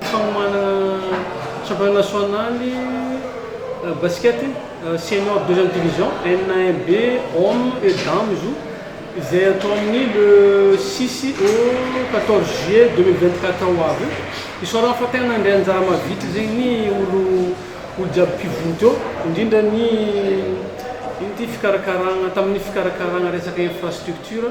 Fanomanana championnat national basket senior deuxième division enina un B hommes et dames izy io izay atao amin'ny le six au quatorze juillet deux mille vingt quatre ho avy io. Isaorana fa tena nandray anjara mavitrika zegny ny olo olo jiaby mpivory teo indrindra ny ino ty fikarakarana tamin'ny fikarakarana resaka infrastructure.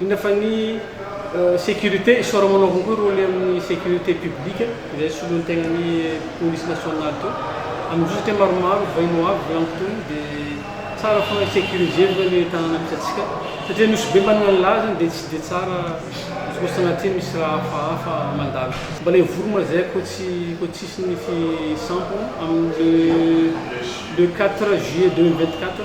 Indrindra fa ny sécurité, isaoramo anao avao koa rôle amin'ny sécurité publique izay soloin'ny tegnan'ny police nationale teo amin'izao satria maromaro vahiny ho avy volagny tony dia tsara foana ny sécurisé aloha ny tanàna misy antsika satria nosy be manana ny lazany dia tsy dia tsara izy koa sanatria misy raha hafahafa mandalo. Mbola hivory mazay koa tsy koa tsisy ny fisampana amin'ny le quatre juillet deux mille vingt quatre.